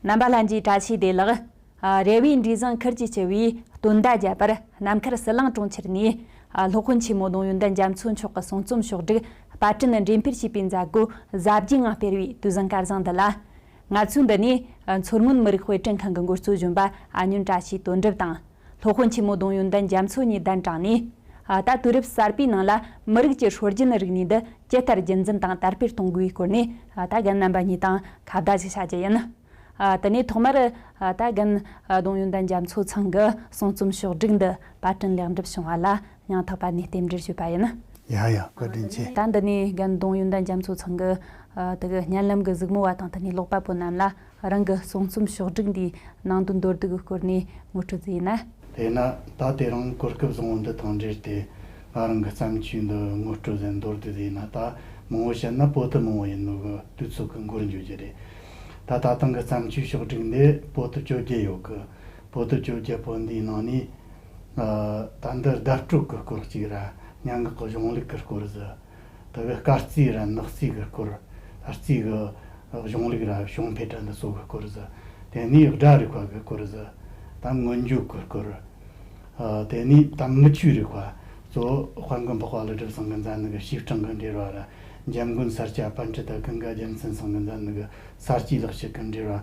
རྣམ་པ་ལྷན་གྱིས་བཀྲ་ཤིས་བདེ་ལགས། རེ་བའི་འབྲས་བཟང་འཁུར་གྱིས་སྤྱི་བོའི་སྟོན་ཟླ་བརྒྱད་པར་ནམ་མཁར་གསལ་ལངས་གྲོང་ཁྱེར་ནས་སློབ་དཔོན་ཆེན་མོ་གདོང་ཡོན་ཏན་རྒྱ་མཚོ་མཆོག་གི་གསུང་རྩོམ་ཕྱོགས་བསྒྲིགས་པར་སྐྲུན་འགྲེམས་སྤེལ་བྱས་པའི་མཛད་སྒོའི་གཟབ་རྒྱས་ངང་སྤེལ་བའི་དུས་བཟང་སྐལ་བཟང་འདི་ལ། ང་ཚོས་འདི་ནས་མཚོ་སྔོན་མི་རིགས་དཔེ་སྐྲུན་ཁང་གི་འགོ་གཙོ་གཞོན་པ་ཨ་སྨྱོན་བཀྲ་ཤིས་དོན་གྲུབ་དང། ལྷོ་དཔོན་ཆེན་མོ་ལྡོང་ཡོན་ཏན་རྒྱ་མཚོ་གཉིས་གདན་དྲངས་ནས། ད་དུས་རབས་གསར་པའི་ནང་ལ་མི་རིགས་ཀྱི་ཧྲོལ་རྒྱུན་རིག་གནས་འདི་ཇི་ལྟར་རྒྱུན་འཛིན་དང་དར་སྤེལ་གཏོང་དགོས་པའི་སྐོར་ནས་ད་རྒན་རྣམ་པ་གཉིས་དང་ཁ་བརྡ་ཞིག་བྱ་རྒྱུ་ཡིན། དེ་ནས་ཐོག་མར་ད་རྒན། ལྡོང་ཡོན་ཏན་རྒྱ་མཚོ་ཚང་གི་གསུང་རྩོམ་ཕྱོགས་བསྒྲིགས་འདི་པར་སྐྲུན་ལེགས་འགྲུབ་བྱུང་བ་ལ་ཡང་དག་པ་ནས་རྟེན་འབྲེལ་བྱེད་པ་ཡིན། ཡང་ཡང་བཀའ་དྲིན་ཆེ། ད་འདི་ནས་རྒན་གདོང་ཡོན་ཏན་རྒྱ་མཚོ་ཚང་གི་དེ་གི་བརྙན་ལམ་གི་གཟིགས་མོ་བ་དང་དེ་ནས་ཀློག་པ་པོ་རྣམས་ལ་རང་གི་གསུང་རྩོམ་ཕྱོགས་བསྒྲིགས་འདིའི་ནང་དུ་འདོར་བསྡུས་ཀྱི་སྐོར་ནས་ངོ་སྤྲོད་རྩིས་ཡིན། དེས་ན་ད་དེ་རིང་གོ་སྐབས་བཟང་བོ་འདི་དང་འབྲེལ་ཏེ་ང་རང་གི་བརྩམས་ཆོས་འདི་ངོ་སྤྲོད་དེ་འདོར་བསྡུས་དེ་ཡིན་ན་ད་མང་བོ་བཤད་ན་པོ་ཏི་མང་བོ་ཡིན་མོད་གི་དུས་ཚོད་ཀྱི་འགོར་འགྱུར་རྒྱུ་རེད། ད་ད་ཐེངས་ཀྱི་བརྩམས་ཆོས་ཕྱོགས་བསྒྲིགས་འདི་པོ་ཏི་བཅོ་བརྒྱད་ཡོད་གི། པོ་ཏི་བཅོ་བརྒྱད་པོ་འདིའི་ནང་ནས། ད་འདི་ཟླ་དཀྲུགས་གི་སྐོར་གཅིག་ར་ཉང་གི་གཞུང་ལུགས་ཀྱི་སྐོར་ཟི་དི་གི་སྐར་རྩིས་ར་ནག་རྩིས་གི་སྐོར་ཨ་རྩིས་གི་གཞུང་ལུགས་ར་བྱུང་འཕེལ་གྲ་འདི་སོགས་གི་སྐོར་ཟི་དེ་ནས་སྦྲ་རིག་པ་གི་སྐོར་ཟི་དམ་སྔོན་འཇུག་གི་སྐོར་དེ་ནས་དམ་དངུལ་ཆུའི་རིག་པ་གཙོ་བོ་དཔལ་མགོན་འཕགས་པ་ལི་གྲུབ་ཟངས་ཀྱི་མཛའ་ནི་གི་ཞིབ་ཕྲེང་གི་འགྲེལ་བ་ར་འཇམ་མགོན་སར་སྐྱ་པཎ་ཀྲི་ཏཱ་ཀི་འགའ་རྒྱལ་མཚན་ཟངས་ཀྱི་མཛའ་ནི་གི་གསར་སྐྱེས་ལག་ཤེས་ཀྱི་འགྲེལ་བ།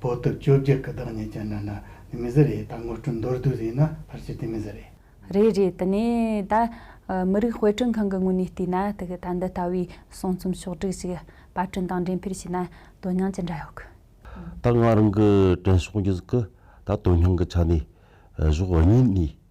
བོད་དུ་བཅོ་བརྒྱད་ཀྱི་བདག་ཉིད་ཀྱི་ནི་ནི་ནི་མི་ཟེར་ཡས་ད་དངོས་སྤྲུལ་མདོར་བསྡུས་ཟིན་ན་ཕར་ཆེར་དེ་མི་ཟེར་ཡས། རེད་རེད་དེ་ནས་ད་མི་རིགས་དཔེ་སྐྲུན་ཁང་གི་ངོས་ནས་བལྟས་ན་ད་འདི་ལྟ་བུའི་གསུང་རྩོམ་ཕྱོགས་བསྒྲིགས་ཤིག་དཔར་སྐྲུན་དང་འགྲེམས་སྤེལ་བྱས་ན་དོན་སྙིང་ཅི་འདྲ་ཡོད་གི། ད་ང་རང་གི་དྲན་གསོ་ཉིད་ཀྱི་ད་དོན་སྙིང་གི་ཆ་ནས་གཞོགས་གཉིས་ནས།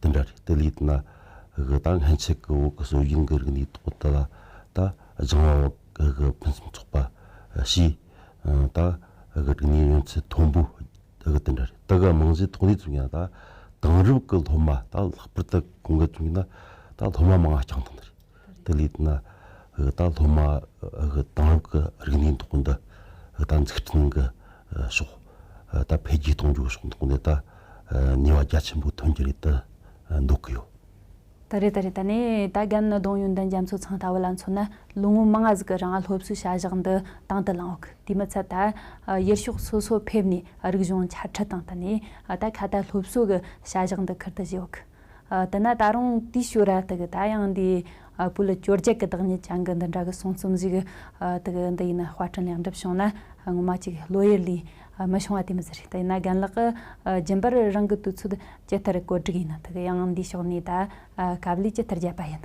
དེ་འདྲ་རེད་དེ་ལས་ན་གི་ད་སྔན་ཆད་ཀྱི་བོད་ཀྱི་སྲོལ་རྒྱུན་གྱི་རིག་གནས་ཐོག་ཏུ་ལ་ད་སྦྱང་བ་བོད་ཀྱི་ཕུན་སུམ་ཚོགས་པ་ཞེས་ད་གི་རིག་གནས་ཡོན་ཚད་མཐོན་པོ་དེ་གི་དེ་འདྲ་རེད་དེ་གི་རྨང་གཞི་ཐོག་ནས་བཙུགས་ཡང་ད་དེང་རབས་ཀྱི་སློབ་མ་ད་ལྷག་པར་དུ་གོང་གི་བཙུགས་ན་ད་སློབ་མ་མང་ཡང་རྐྱང་ཐང་དུ་རེད། དེ་ལས་ན་ད་སློབ་མ་གི་དེང་རབས་ཀྱི་རིག་གནས་འདོགས་འདི་ད་འཛུགས་སྐྲུན་གྱི་ཕྱོགས་ད་འཕེལ་རྒྱས་གཏོང་རྒྱུའི་ཕྱོགས་འདོགས་འདི་ད་ནུས་པ་རྒྱ་ཆེན་པོ་ཐོན་གྱི་རེད་དུ་འདོགས་ཀྱི་ཡོད། ད་རེད་ད་རེད་ད་ནས་ད་རྒྱ་ནག་གདོང་ཡོན་དང་རྒྱ་མཚོ་ཚང་ལྟ་བུ་ལ་མཚོན་ན་ལོ་ངོ་མང་ང་ཟིག་རང་སློབ་གསོའི་བྱ་བཞག་འདི་དང་དུ་བླངས་འོག་དེ་མི་ཚད་ད་ཡུལ་ཕྱོགས་སོ་སོ་ཕེབས་ནས་རིག་གཞུང་འཆད་ཁྲིད་དང་ད་ནས་ད་ཁ་ད་སློབ་གསོ་གི་བྱ་བཞག་འདི་ཁུར་དུ་བཞེས་འོག་དེས་ན་ད་རུང་དེའི་ཞོལ་ར་དག་ད་ཡང་འདི་བོད་ལ་བཅོ་བརྒྱད་ཀྱི་བདག་ཉིད་བྱང་གི་འདི་འདྲ་གི་གསུང་རྩོམ་ཞིག་དག་འདི་ཡིན་ན་དཔར་སྐྲུན་ལེགས་འགྲུབ་བྱུང་ན་ངོ་མ་ཅིག་བློ་ཡུལ་ལས་མི་བྱུང་བ་དེ་མི་ཟེར་དེས་ན་རྒན་ལགས་ཀྱི་རྒྱུན་པར་རང་གི་དུས་ཚོད་ཇི་ལྟར་བཀོད་སྒྲིག་ཡིན་ན་དག་ཡང་འདིའི་ཕྱོགས་ནས་ད་གབ་ལས་ཇི་ལྟར་བརྒྱབ་པ་ཡིན།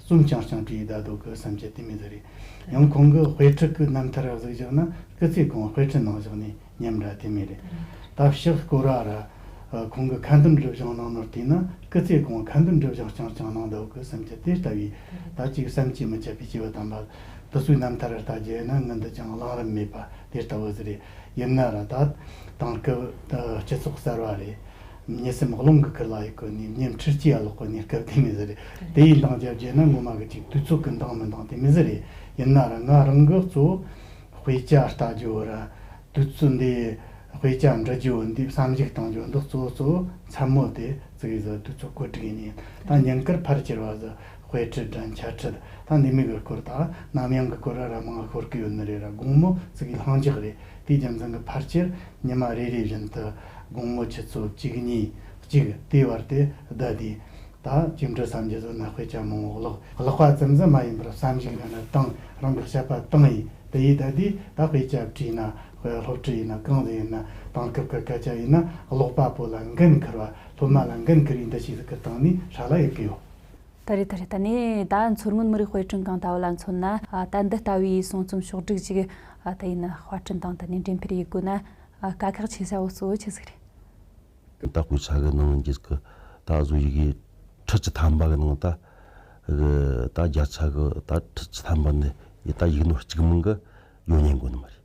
གསུམ་བྱང་བྱང་དེ་ཡི་ཟླ་དོ་གི་བསམ་འཆར་དེ་མེད་ཟེར་རེད། ཡང་ཁོང་གི་དཔེ་ཁྲིད་ཀྱི་རྣམ་ཐར་གཟིགས་བཞག་ན་སྐུ་ཚེ་གང་དཔེ་ཁྲིད་གནང་བཞག་ནས་ཉམས་འདྲ་དེ་མེད་རེད། ད་ཕྱག་སྐོར་ར་ར། ཁོང་གི་ཁ་འདོན་སྒྲུབ་བྱང་གནང་ནོར་བལྟས་ན་སྐུ་ཚེ་གང་ཁ་འདོན་སྒྲུབ་བྱང་བྱང་བྱང་གནང་ཟློག་གི་བསམ་འཆར་དེ་ལྟ་བུའི་ད་ཅིག་བསམ་གྱིས་མི་ཁྱབ་པའི་སྐྱེ་བོ་དམ་པ། དུ་སུའི་རྣམ་ཐར་ལྟ་རྒྱུ་ཡིན་ན་ངུ་འདི་ཅང་བླང་རིན་མེད་པ་དེ་ལྟ་བུ་ཟེར་རེད། ཡིན་ན་ར་ད། དེང་སྐབས་སྤྱི་ཚོགས་གསར་བ་རེད། ཉེ་སྲས་མག་ལོང་གི་ཀི་ལ་ཡི་གོས་ནི་སྙེམས་ཁྲིར་སྐྱི་ཡ་ལོག་གོས་ཉེར་སྐབས་དེ་མི་ཟེར། དེ་ཡི་འདང་རྒྱབ་བརྒྱད་ན་སྔོན་མ་གི་ཅིག་དུས་ཚོད་ཀི་འདང་མི་འདང་དེ་མི་ཟེར། ཡིན་ན་རང་ང་རང་གི་གཙོ་བོ་དཔེ་ཆ་ལྟ་རྒྱུ་བོ་ར། དུས་ཚོད་འདི་དཔེ་ཆ་འབྲི་རྒྱུ་བོ་འདི་བསམ་གཞིག་གཏང་རྒྱུ་འདི་གཙོ་བོ་གཙོ་བོ་མཚན་མོ་དེ་བརྩི་གི་ཟ་དུས་ཚོད་གོ་དྲི་གི་ཉིན་དང་ཉིན་ཀིར་ཕར་ཁྱེར་བ་ཟ། དཔེ་ཁྲིད་དྲན་འཆར་ཁྲིད་དང་ལས་མི་གི་སྐོར་དང་ནམ་ཡང་གི་སྐོར་ར་ར་མང་ལ་ཤོར་གི་ཡོད་ནི་རེད་ར་དགོང་མོ་ཙི་གི་ལྷང་འཇགས་རེད་དེའི་རྒྱུ་མཚན་གི་ཕར་ཆེར་ཉི་མ་རེ་རེའི་བཞིན་དུ་དགོང་མོ་ཆུ་ཚོད་གཅིག་གཉིས་གཅིག་དེའི་བར་དེ་བསྡད་དེ་ད་གཅིག་འཕྲོས་སམ་རྗེས་སུ་ན་དཔེ་ཆ་མང་བོ་བཀླགས་བཀླགས་པ་ཙམ་ཙམ་མ་ཡིན་པར་བསམ་གཞིག་རང་གི་སྟེང་རང་གི་ཤེས་པ་སྟེང་ཡིན་དེ་ཡིས་བསྡད་དེ་ད་དཔེ་ཆ་བྲིས་ན་དཔེ་སློབ་ཁྲིད་ཡིན་ན་གང་ཟིག་ཡིན་ན་དེང་སྐབས་གི་སྐད་ཆ་ཡིན་ན་ཀློག་པ་པོ་ལ་འགན་འཁུར་བ་སློབ་མ་ལ་འགན་འཁུར་བའི་འདུ་ཤེས་གི་སྟེང་ནས་ཧྲ་ལ་ཡོད་ཀི་ཡོད། ད་རེད་ད་རེད་ད་ནས་ད་མཚོ་སྔོན་མི་རིགས་དཔེ་སྐྲུན་ཁང་ལྟ་བུ་ལ་མཚོན་ན་ད་འདི་ལྟ་བུའི་གསུང་རྩོམ་ཕྱོགས་བསྒྲིགས་ཅིག་ད་ཡིན་ན་དཔར་སྐྲུན་དང་ད་ནས་འགྲེམས་འཕེར་ཡིག་དགོས་ན་དཀའ་ཁག་ཆེ་ས་བོ་གཙོ་བོ་ཆི་ཟིག་རེད། ད་སྐུལ་ཆ་གི་ནང་རྒྱུད་ཀྱི་ད་གཟུགས་ཡི་གེ་ཁྲི་བཅུ་ཐམ་པ་གི་ནང་ད་གི་ད་བརྒྱ་ཆ་གི་ད་ཁྲི་བཅུ་ཐམ་པ་ནི་ཡི་ད་ཡིག་ནོར་གཅིག་མིན་གི་ཡོད་ཉན་དགོས་ནི་མ་རེད།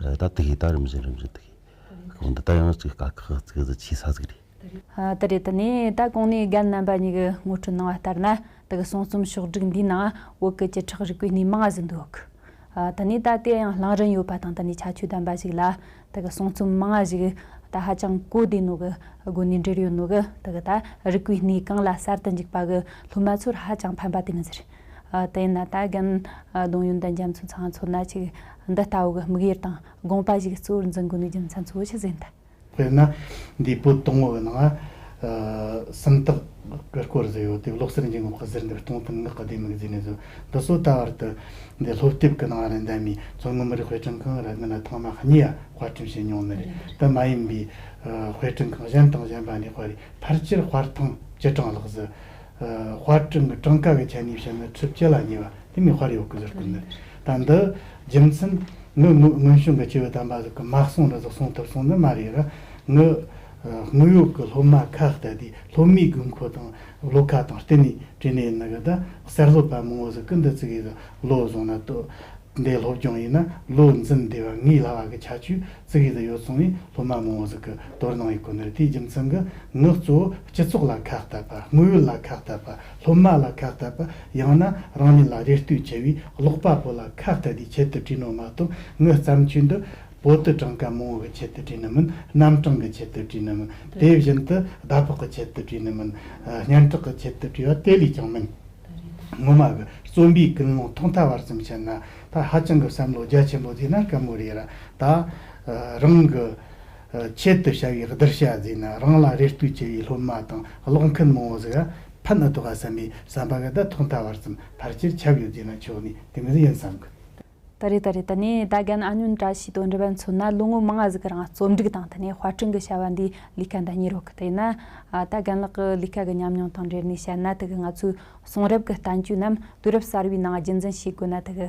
ད་དེ་ཧེ་ད་རིམ་བཞིན་རིམ་བཞིན་དེ་ཧེ་འདི་ད་ཡང་ཅིག་དཀའ་ཁག་གི་ཚིག་གཟིགས་ཆེ་ས་ཟིག་རེད། དེ་རེད་དེ་ནས་ད་གོང་ནས་རྒན་རྣམ་པ་གཉིས་གི་ངོ་སྤྲོད་གནང་བ་ལྟར་ན་དེ་གི་གསུང་རྩོམ་ཕྱོགས་བསྒྲིགས་འདིའི་ནང་བོད་སྐད་ཀྱི་ཁྲག་རིག་པའི་སྣེ་མང་ཟིག་འདུག་དེ་ནས་ད་དེ་ཡང་ལངས་རིན་ཡོད་པ་དང་དེ་ནས་ཁྱད་ཆོས་ལྡན་པ་ཞིག་ལ་དེ་གི་གསུང་རྩོམ་མང་ཞིག་ད་ཧ་ཅང་གོ་བདེ་ནོ་གི་སྒོ་ནས་འབྲེལ་ཡོད་ནོ་གི་དེ་གི་ད་རིག་པའི་སྣེ་གང་ལ་གསར་དུ་འཇུག་པ་གི་སློབ་མ་ཚོར་ཧ་ཅང་ཕན་པ་དེ་གི་ཟེར། དེ་ཡིན་ན་ད་རྒན་གདོང་ཡོན་ཏན་རྒྱ་མཚོ་ཚང་ཚོ་ན་ཅིག་འདི་ལྟ་བུ་གི་དམིགས་ཡུལ་དང་དགོངས་པ་ཞིག་གཙོ་བོར་འཛིན་དགོས་ནུས་རྒྱུ་མཚན་གཙོ་བོ་ཆུ་ཟེར་འདི། དཔེར་ན་འདིའི་པོད་སྟོང་བའི་ནང་སུམ་རྟགས་ཀྱི་སྐོར་བཟོས་ཡོད་དེ་ལོག་སེར་འབྱིན་དགོངས་པ་ཟེར་འདིར་སྟོང་དང་ངག་གི་ལྡེ་མིག་བརྫིས་ནས་བཟོས་འདི་སོ་ད་བར་དུ་འདི་སློབ་དེབ་ཀྱི་ནང་རེ་འདེམས་མིན་མཚོ་སྔོན་མི་རིགས་དཔེ་སྐྲུན་ཁང་རེ་འདི་ནས་ཐོག་མ་གཉིས་ཡ་དཔར་སྐྲུན་བྱས་མྱོང་མེད་རེད་དེ་མ་ཡིན་པའི་དཔེ་སྐྲུན་ཁང་གཞན་དང་གཞན་པ་ནས་དཔར་བའི་ཕར་ཆེར་དཔར་ཐེངས་བཅུ་གྲངས་ལྷག་བཟོས་དཔར་སྐྲུན་གྱི་གྲངས་ཀ་གི་ཆ་ནས་བཤད་ན་ཁྲི་བཅུ་ལ་ཉེ་བ་དེ་ནི་དཔར་ཡོད་ཀྱི་ཟུར་བཀོད་འདི་དང་འདི་རྒྱུ་མཚན་ངའི་དངོས་བྱུང་གི་སྐྱེས་བུ་དམ་པ་ཟིག་གི་སྨྲ་གསུང་རེ་ཟིག་གསུང་ཐུབ་སོང་ནི་མ་རེད་ར་ངའི་དངོས་ཡོད་ཀྱི་སློབ་མ་ཁ་བལྟ་དུས་སློབ་མའི་དགོས་མཁོ་དང་བློ་ཁ་དང་བསྟུན་ནས་བྲིས་ནས་ཡིན་གདའ་གསར་བཟོ་པ་མང་བོ་ཟིག་གི་འདི་ཙིག་ཡིག་གི་བློ་བཟུང་ན་ལྟོས་འདའི་སློབ་སྦྱོང་ཡིན་ན་བློ་འཛིན་བདེ་བ་ངའི་ལྷ་བ་གི་ཁྱད་ཆོས་ཙིག་ཡིག་དུ་ཡོད་སོང་བས་སློབ་མ་མང་བོ་ཟིག་གི། དོར་སྣང་ཡི་གོ་ནོར་དེའི་རྒྱུ་མཚན་གྱི་ངག་གཙོ་བོ་སྤྱི་ཚོགས་ལ་ཁག་བསྟབས་པ་དངོས་ཡོད་ལ་ཁག་བསྟབས་པ་སློབ་མ་ལ་ཁག་བསྟབས་པ་ཡང་ན་རང་ཉིད་ལ་རེ་ལྟོས་ཆེ་བའི་ཀློག་པ་པོ་ལ་ཁག་བསྟད་དེ་ཆེད་དུ་བྲིས་ནོ་མ་གཏོགས་ངའི་བརྩམས་ཆོས་འདི་བོད་དུ་གྲངས་ཀ་མང་བོ་གི་ཆེད་དུ་བྲིས་ནི་མིན་རྣམ་གྲངས་ཀྱི་ཆེད་དུ་བྲིས་ནི་མིན་དེ་བཞིན་དུ་ཟླ་ཕོགས་ཀྱི་ཆེད་དུ་བྲིས་ནི་མིན་སྙན་གྲགས་ཀྱི་ཆེད་དུ་བྲིས་པ་དེ་ལས་ཀྱང་མིན། ངོ་མ་གི་རྩོམ་པའི་ཀུན་སློང་ཐོག་མཐའ་བར་ཙམ་བྱས་ན་ད་ཧ་ཅང་གི་བསམ་བློ་རྒྱ་ཆེན་པོ་བཟོས་ན་དཀའ་མོ་རེད་ར་ད་རང་གི། ཆེད་དུ་བྱ་བའི་བསྡུར་བྱ་བཟོས་ན་རང་ལ་རེ་ལྟོས་ཆེ་བའི་སློབ་མ་དང་ཀློག་མཁན་མང་བོ་ཟིག་ལ་ཕན་ཨི་ཐོག་ག་བསམ་པའི་བསམ་པ་འགའ་ད་ཐོག་མཐའ་བར་གསུམ་ཕར་ཆེར་ཁྱབ་ཡོད་རྒྱུ་ན་ཆོག་ནི་དེ་མིན་ཡིན་བསམ་གི། ད་རེས་ད་རེས་ད་ནས་ད་རྒན་ཨ་ཉོན་བཀྲ་ཤིས་དོན་འགྲུབ་པ་མཚོན་ན་ལོ་ངོ་མང་ང་ཟིག་རང་རྩོམ་སྒྲིག་དང་ད་ནས་དཔར་སྐྲུན་གི་བྱ་བ་འདིའི་ལས་ཀ་འདྲ་གཉིས་རོགས་གི་དེས་ན་ད་རྒན་ལགས་ཀི་ལས་ཀ་གི་ཉམས་མྱོང་དང་འབྲེལ་ནས་བཤད་ན་ད་གི་ང་ཚོའི་གསུང་རབ་གི་བསྟན་བཅོས་རྣམས་དུས་རབས་གསར་བའི་ནང་རྒྱུན་འཛིན་བྱེད་དགོས་ན་ད་གི་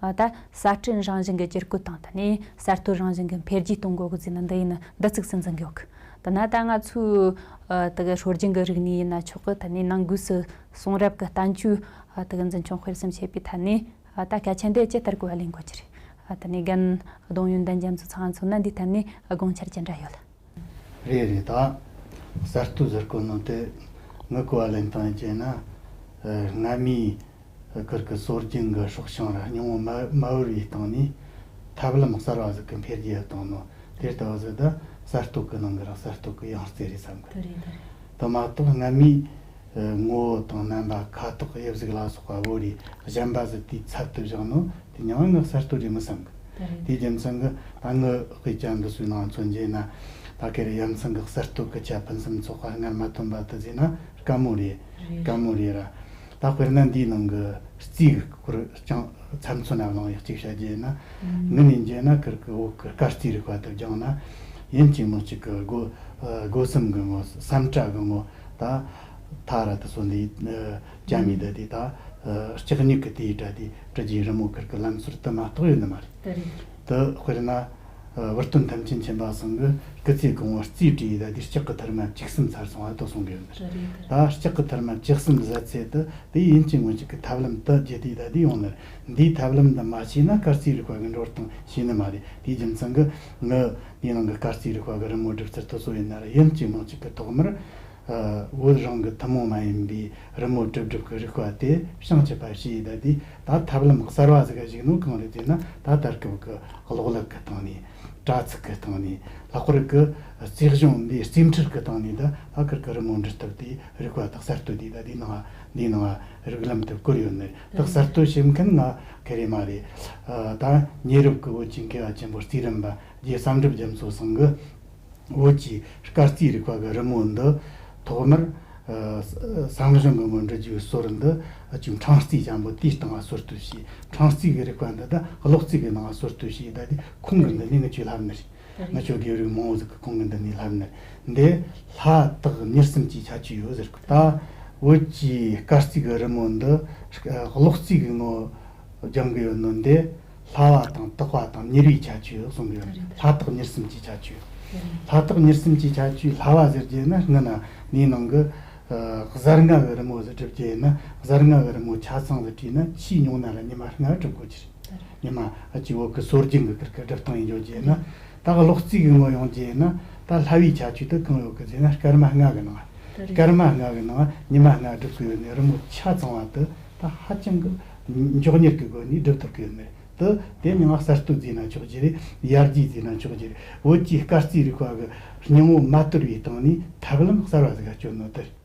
ད་ལྟ་གསར་སྐྲུན་རང་བཞིན་གྱི་བསྒྱུར་བཀོད་དང་ད་ནས་གསར་གཏོད་རང་བཞིན་གྱི་འཕེལ་རྒྱས་གཏོང་དགོས་ཀྱི་ཟེར་ན་འདི་ཡིན་ནི་འདི་ཚིག་ཟིན་ཟིན་གི་ཨོཁ། ད་ནི་ད་ང་ཚོའི་དག་སྲོལ་རྒྱུན་གྱི་རིག་གནས་ཡིན་ན་ཆོག་གི་ད་ནི་ནང་སྒོས་སུ་གསུང་རབ་ཀྱི་བསྟན་བཅོས་དག་འཛིན་སྐྱོང་སྤེལ་གསུམ་བྱེད་པའི་ཐད་ནས་ད་སྐད་ཆ་འདི་ཇི་ལྟར་གོ་བ་ལེན་དགོས་ཀྱི་རེད། ད་ནི་རྒན་གདོང་ཡོན་ཏན་ཅན་ཚོ་ཚང་མཚོན་ན་འདིའི་ཐད་ནས་དགོངས་འཆར་ཇི་འདྲ་ཡོད། རེ་རེ་དང། གསར་དུ་གཟིར་བཀོད་གནང་སྟེ། ངུ་བཀོད་བ་ལེན་སྟངས་བཅས་ནི། སྔ་མའི་ཀིར་ཀི་སོར་རྒྱུན་གྱི་སྲོག་ཤིང་ར་ཉུང་ངུ་མ་དབོར་བའི་སྟེང་ནས། ཐབས་ལམ་གསར་བ་ཟིག་གི་འཕེལ་རྒྱས་བཏང་ནོ། དེ་ལྟ་བུ་ཟིག་དང་གསར་གཏོད་ཀྱི་ནང་གི་རང་གསར་གཏོད་ཀྱི་ཡང་རྩེ་རེད་བསམ་དགོས། དེ་མ་གཏོགས་སྔ་མའི་ངོ་བོ་དང་རྣམ་པ་ཁ་དོག་དབྱིབས་གཟུགས་ལ་སོགས་པ་བོ་རིས་གཞན་པ་ཟིལ་དུས་ཚབ་ཏུ་བཞག་ནོ་དེ་མྱང་བ་ནི་གསར་གཏོད་རེ་མི་བསམ་གི། དེའི་རྒྱུ་མཚན་གྱི་ད་ངའི་དཔེ་རྒྱ་འདི་སུའི་ནང་མཚོན་རྗེས་ན། ད་གེ་རི་ཡ་མཚན་གྱི་གསར་གཏོད་ཀྱི་ཁྱད་ཕུན་སུམ་ཚོགས་པ་སྔར་མ་བཏོན་པ་དེ་བཟོས་ན་དཀའ་མོ་རེད་དཀའ་མོ་རེད་ར། ད་དཔེར་ན་འདིའི་ནང་གི་རྩིས་ཀྱི་སྐོར་རྐྱང་ཚབ་མཚོན་ན་གླེང་ཡག་གཅིག་བྱ་རྒྱུ་ཡིན་ན། ངུ་ནས་འཇལ་ན་ཁུར་གྱི་འོག་གི་སྐར་རྩིས་རིག་པ་དེ་སྦྱངས་ན། ཡིན་གཅིག་མིན་གཅིག་གི་སྒོ་སམ་གི་ངོ་བསམ་གྲྭ་གི་ངོ། ད་ཐ་ར་ཏི་སོ་འདི་ཅང་མི་འདི་དེ་ད་ལྕགས་སྨྱུག་གི་དེའི་སྒྲ་དེ་དྲི་རྒྱའི་རི་མོ་ཁུར་གི་ལམ་ཟུར་དུ་མ་གཏོགས་ཡོད་ནི་མ་རེད། དེ་དཔེར་ན་བུ་སྟོན་ཐམས་ཅད་མཁྱེན་པ་ཟུང་གི་སྐུ་ཚེའི་གོང་བུ་རྩིས་དྲི་ཡིས་ད་དེའི་ལྕགས་ཀྱི་ཐུར་མ་གཅིག་གསུམ་ཚར་སོང་བ་དོ་གསུང་གི་ཡོད་ནི་རེད། ད་ལྕགས་ཀྱི་ཐུར་མ་གཅིག་གསུམ་བཟའ་ཚེ་དེ་དེའི་ཡིན་གཅིག་མིན་གཅིག་གི་ཐབས་ལམ་དུ་རྒྱུ་དེ་ད་དེ་ཡོང་ནི་རེད། འདིའི་ཐབས་ལམ་འདི་མ་བྱས་ན་སྐར་རྩིས་རིག་པ་གི་འགྲོ་སྟངས་ཤེས་ནི་མ་རེད། དེའི་རྒྱུ་མཚན་གི། ནི། ཡུལ་ནང་གི་སྐར་རྩིས་རིག་པ་བརྒལ་རི་མོ་གྲུབ་ཚུལ་ཏུ་བཟོ་བའི་ནར་ཡན་གཅིག་མང་གཅིག་གི་ཐོག་མར། བོད་རང་གི་ཐུན་མོང་མ་ཡིན་པའི་རི་མོ་གྲུབ་སྒྲུབ་ཀྱི་རིག་པ་དེ་བྱང་ཆུབ་པ་ཞེས་གདགས་དུས་ད་ཐབས་ལམ་གསར་བ་ཟིག་གཞིགས་ནོ་གང་རེད་ཅེ་ན་ད་ལྟར་སྐབས་ཀྱི་གློག་ཀླད་ཀྱི་སྟེང་ནས། དྲ་ཚིགས་ཀྱི་སྟེང་ནས། ལྷག་པར་དུ་རྩིས་གཞུང་འདིའི་རྩིས་འཕྲུལ་གྱི་སྟེང་ནས་ད་ལྷག་སྐར་གྱི་རི་མོ་འབྲི་ཐབས་དེའི་རིག་པ་དག་གསར་གཏོད་དེ་ད་དེའི་ནང་དེའི་ནང་རིགས་ལམ་དུ་བཀོད་ཡོད་ནི་བདག་གསར་གཏོད་བྱེད་མཁན་ང་ག་རེ་མ་རེད་ད། ཉེ་རབས་ཀྱི་བོད་ཀྱི་འགལ་བ་ཆེན་པོ་རྩིས་རིམ་པ་རྗེ་བསམ་འགྲུབ་རྒྱ་མཚོས་གསུངས་གི། བོད་ཀྱི་སྐར་རྩིས་རིག་པ་གི་རི་མོ་འདི། ཐོག་མར། བསང་གཞུང་གི་མགོན་འདྲི་རྒྱུའི་སྲོལ་འདི་བཅུག་འཕྲང་རྩིས་ཆེན་པོ་དེའི་སྟེང་ལ་གསོལ་བསྟོད་བྱས། འཕྲང་རྩིས་ཀྱི་རིག་པ་འདི་དག་གློག་རྩིས་ཀྱི་ནང་ལ་གསོལ་བསྟོད་བྱས་གདའ་དུས་ཁོང་གི་འདི་གཉིས་ནི་ཆོས་ལྷ་མི་རིགས། ང་ཁྱོད་དགེ་བའི་རིགས་མང་བོ་ཟིག་གི་ཁོང་གི་འདི་ནས་ལབ་ནི་འདི། ལྷ་དག་མྱུར་སེམས་ཀྱིས་ཆ་ཆུ་ཡོད་ཟེར་ད། བོད་ཀྱི་སྐར་རྩིས་ཀྱི་རི་མོ་འདི། གློག་རྩིས་ཀྱི་ངོ་སྦྱང་གི་ཡོད་ནོ་འདི། ལྷ་བ་དང་སྟག་བ་དང་མྱུར་བའི་ཆ་ཆུ་གསུང་གི་ཡོད་ནོ་ལྷ་དག་མྱུར་སེམས་ཀྱིས་ཆ་ཆུ། ལྷ་དག་མྱུར་སེམས་ཀྱིས་ཆ་ཆུ་ལྷ་བ་ཟེར་རྒྱུ་ནི་ངི་ན་ནའི་ནང་གི། གཟར་ལྔ་གི་རི་མོ་ཟེར་བསྒྲུབ་རྒྱུ་ཡིན་ན་གཟར་ལྔ་གི་རི་མོ་ཆ་ཚང་ཟེར་བྲིས་ན་ཕྱིའི་མྱོང་ན་ལ་ཉི་མ་ལྔ་བསྒྲུབ་དགོས་ཀྱི་རེད། ཉི་མ་བྱེད་འོག་གི་སྲོལ་རྒྱུན་གྱི་ཁུར་ཁུ་སྒྲིལ་གཏོང་ཡིན་བརྗོད་རྗེས་ནི། ད་གློག་རྩིས་ཀྱི་ངོ་ཡོང་རྗེས་ནི། ད་ལྷ་བའི་ཆ་ཆུ་དུ་གང་ཡོད་ཀྱི་རྗེས་ནི་སྐར་མ་ལྔ་གི་ནང། སྐར་མ་ལྔ་གི་ནང་ཉི་མ་ལྔ་བསྒྲུབ་ཀྱི་ཡོད་ནི་རི་མོ་ཆ་ཚང་བ་དུ་ད་ཧ་ཅང་གི་མགྱོགས་མྱུར་གྱི་སྒོ་ནས་བསྒྲུབ་ཐུབ་ཀྱི་ཡོད་ནི་དུ་དེ་ཉིན་ང་གསར་གཏོད་བརྫིས་ན་ཆོག་རྗེས་རེད་ཡར་རྒྱས་བརྫིས་ན་ཆོག་རྗེས་བོད་ཀྱི་སྐར་རྩིས་རིག་པ་གི་སྙིང་བོ་མ་དོར་བའི་སྟེང་ནས་ཐབས་ལམ་གསར་བ་ཟིག་ག་སྤྱོད་ནོ་དེར།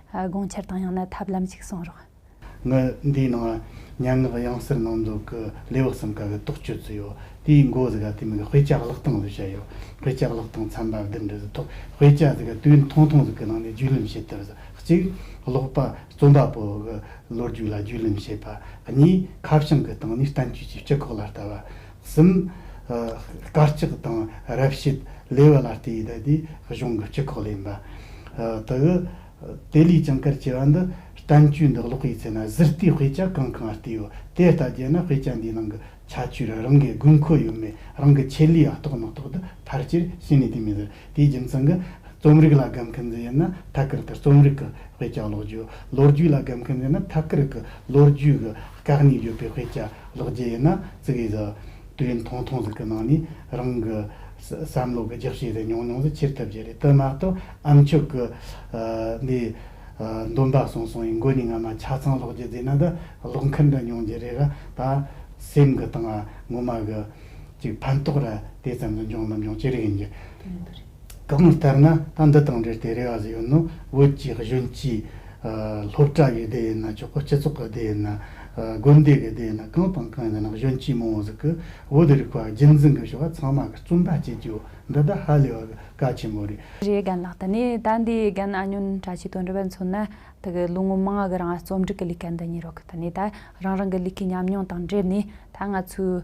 དགོངས་འཆར་དང་ཡང་ན་ཐབས་ལམ་ཞིག་གསུངས་རོགས། ངའི་འདིའི་ནང་སྙན་ངག་དབྱངས་གསལ་གནང་འདུག་གི་ལེའུ་གསུམ་ཀ་གི་རྟོགས་བཅོས་བཙུད་ཡོད་དེའི་མགོ་ཟི་ག་དེ་མིན་གི་དཔེ་ཆ་བཀླགས་སྟངས་ཟིག་བྱས་ཡོད་དཔེ་ཆ་བཀླགས་སྟངས་ཚན་པ་བདུན་འདྲི་ཟིག་ཐོག་དཔེ་ཆ་ཟིག་ག་དུས་ཐུང་ཐུང་ཟིག་གི་ནང་ནས་རྒྱུས་ལོན་བྱེད་ཐུབ་ཟིག་གཅིག་ཀློག་པ་རྩོམ་པ་པོ་གི་ལོ་རྒྱུས་ལ་རྒྱུས་ལོན་བྱེད་པ་གཉིས་ཁ་བྱང་གི་སྟེང་ནས་བསྟན་བཅོས་ཀྱི་སྤྱི་ཁོག་ལ་ལྟ་བ་གསུམ། དཀའ་སྤྱད་དང་རབ་བྱེད་ལས་བ་ལ་སྟེ་ཡི་དྭགས་དེའི་གཞུང་གི་སྤྱི་ཁོག་ལས་ཡིན་པ། དག་གི། དེ་ལས་ཀྱང་གར་བྱེད་བ་འདི་བསྟན་བཅོས་འདི་ཀློག་པའི་ཚེ་ན་གཟི་རྟའི་དཔེ་ཆ་གང་གང་ཨ་སྟེའོ། དེ་ལྟ་བྱས་ན་དཔེ་ཆ་འདིའི་ནང་གི་ཁྱད་ཆོས་ར་རང་གི་དགོས་མཁོ་ཡོད་མེད་རང་གི་ཆེད་ལས་ཨ་རྟོགས་མ་རྟོགས་འདི་ཕར་ཆེར་ཤེས་ནས་དེ་མི་ཟེར་དེའི་རྒྱུ་མཚན་གྱི། རྩོམ་རིག་ལ་དགའ་མཁན་ཟེར་ཡོད་ན་ཐད་ཀར་དུ་རྩོམ་རིག་གི་དཔེ་ཆ་ཀློག་རྒྱུ། ལོ་རྒྱུས་ལ་དགའ་མཁན་ཟེར་ན་ཐད་ཀར་གྱི་ལོ་རྒྱུས་ཀྱི་བཀག་ཉིས་ཡོད་པའི་དཔེ་ཆ་ཀློག་རྒྱུ་ཡིན་ན། ཙི་གེ་ཟི། དུས་ཡུན་ཐུང་ཐུང་ཟིག་གི་ནང་ནས་རང་གི་བསམ་བློ་གི་རྒྱགས་ཕྱེ་དེ་ཉུང་ཉུང་ཟིག་ཁྱེར་ཐུབ་རྒྱུ་རེད་དོན་མ་གཏོགས་ཨ་མཆོག་གི་འདི་འདོན་པ་སོང་སོང་ཡིན་མགོ་ནས་ང་མ་ཆ་ཚང་སློག་རྒྱུ་རྫས་ན་ད་སློག་མཁན་འདྲ་ཉུང་རྒྱུ་རེད་ར་ད་སེམས་གི་དང་ངོ་མ་གི་ཅིག་ཕན་ཐོགས་ར་དེ་ཙམ་ཟིག་འབྱུང་མི་འབྱུང་ཅི་རིགས་ཡིན་རྒྱུ། གང་ལྟར་ན་ད་འདི་དང་འབྲེལ་ཏེ་རེ་བ་ཟེར་ཡོད་ནོ། བོད་ཀྱི་གཞོན་སྐྱེས། སློབ་གྲྭ་བའི་སྡེ་ཡིན་ན་ཆོག་གོ་སྤྱི་ཚོགས་ཀྱི་སྡེ་ཡིན་ན། དགོན་སྡེ་གྱི་སྡེ་ཡིན་ན་གང་དང་གང་ཡིན་ན་གཞོན་སྐྱེས་མང་བོ་ཟིག་གིས་བོད་རིག་པ་རྒྱུན་འཛིན་གྱི་བྱ་བ་ཚང་མ་གི་རྩོམ་པ་བྱེད་རྒྱུ་འདི་ད་ཧ་ལས་བ་ག་ཆེན་མོ་རེད། རེ་གན་ལགས་ད་ནི་ད་འདི་གན་ཨ་ཉོན་བཀྲ་ཆིས་དོན་འགྲུབ་བས་མཚོན་ན་ད་གི་ལོ་ངོ་མང་གི་རང་རྩོམ་སྒྲིག་གི་ལི་ཀ་འདི་གཉིས་རོག་གི་ད་ནི་ད་རང་རང་གི་ལི་ཁའི་ཉམས་མྱོང་དང་འབྲེལ་ནས་ད་ང་ཚོའི་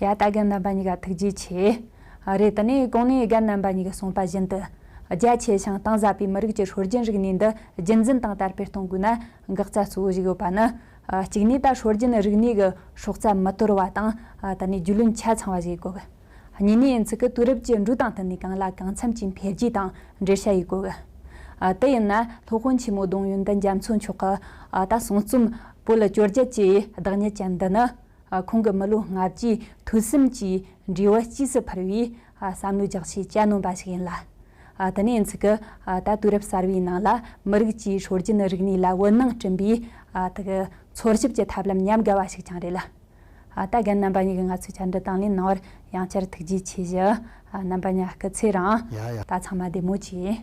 ཡ་ད་གའ་རྣམ་པ་གཉིས་ཀ་ཐུགས་རྗེ་ཆེ། རེད་དེ་ནས་གོང་ནས་གའ་རྣམ་པ་གཉིས་ཀ་གསུངས་པ་བཞིན་དུ། རྒྱ་ཆེ་ཞིང་གཏིང་ཟབ་པའི་མི་རིགས་ཀྱི་ཧྲོལ་རྒྱུན་རིག་གནས་འདི་རྒྱུན་འཛིན་དང་དར་སྤེལ་གཏོང་དགོས་ན། འགག་རྩ་གཙོ་བོ་ཞིག་ཡོད་པ་ནི། གཅིག་ནས་ད་ཧྲོལ་རྒྱུན་རིག་གནས་ཀྱི་སྲོག་རྩ་མི་དོར་བ་དང། ད་ནས་རྒྱུས་ལོན་ཆ་ཚང་བ་ཞིག་དགོས། གཉིས་ནས་ཚིག་གི་དུས་རབས་ཀྱི་འགྲོས་དང་བསྟུན་ནས་གང་ལ་གང་འཚམ་གྱིས་འཕེལ་རྒྱས་དང་འགྲེལ་བྱ་ཡིག་དགོས། དེ་ཡིན་ན་སློབ་དཔོན་ཆེན་མོ་གདུང་ཡོན་ཏན་རྒྱ་མཚོ་མཆོག་གི། ད་གསུང་རྩོམ། བོད་ལ་བཅོས་བསྒྱུར་གྱི་བདག་ཉིད་ཅན་འདི་ནི། ཁོང་གི་མི་ལོ་ལྔ་བཅུའི་ཐུགས་སེམས་ཀྱི་འབྲས་བུ་དཔྱིས་སུ་འཕུར་བའི་བསམ་བློའི་རྒྱགས་ཕྱེ་གྱ་ནོམ་པ་ཞིག་ཡིན་ལ། དེ་ནི་ཡིན་ཚུལ་གྱི་ད་དུས་རབས་གསར་བའི་ནང་ལ་མི་རིགས་ཀྱི་ཧྲོལ་རྒྱུན་རིག་གནས་ལ་འོད་སྣང་སྐྲུན་པའི་འཚོལ་ཞིབ་ཀྱི་ཐབས་ལམ་ཉམས་དགའ་བ་ཞིག་ཀྱང་རེད་ལ། ད་རྒན་རྣམ་པ་གཉིས་ཀྱིས་ང་ཚོའི་བཅར་འདྲི་དང་ལེན་གནང་བར་ཡང་བསྐྱར་ཐུགས་རྗེ་ཆེ་བཞི། རྣམ་པ་གཉའ་སྐུ་ཚེ་རིང། ད་ཚང་མ་བདེ་མོ་བྱོས།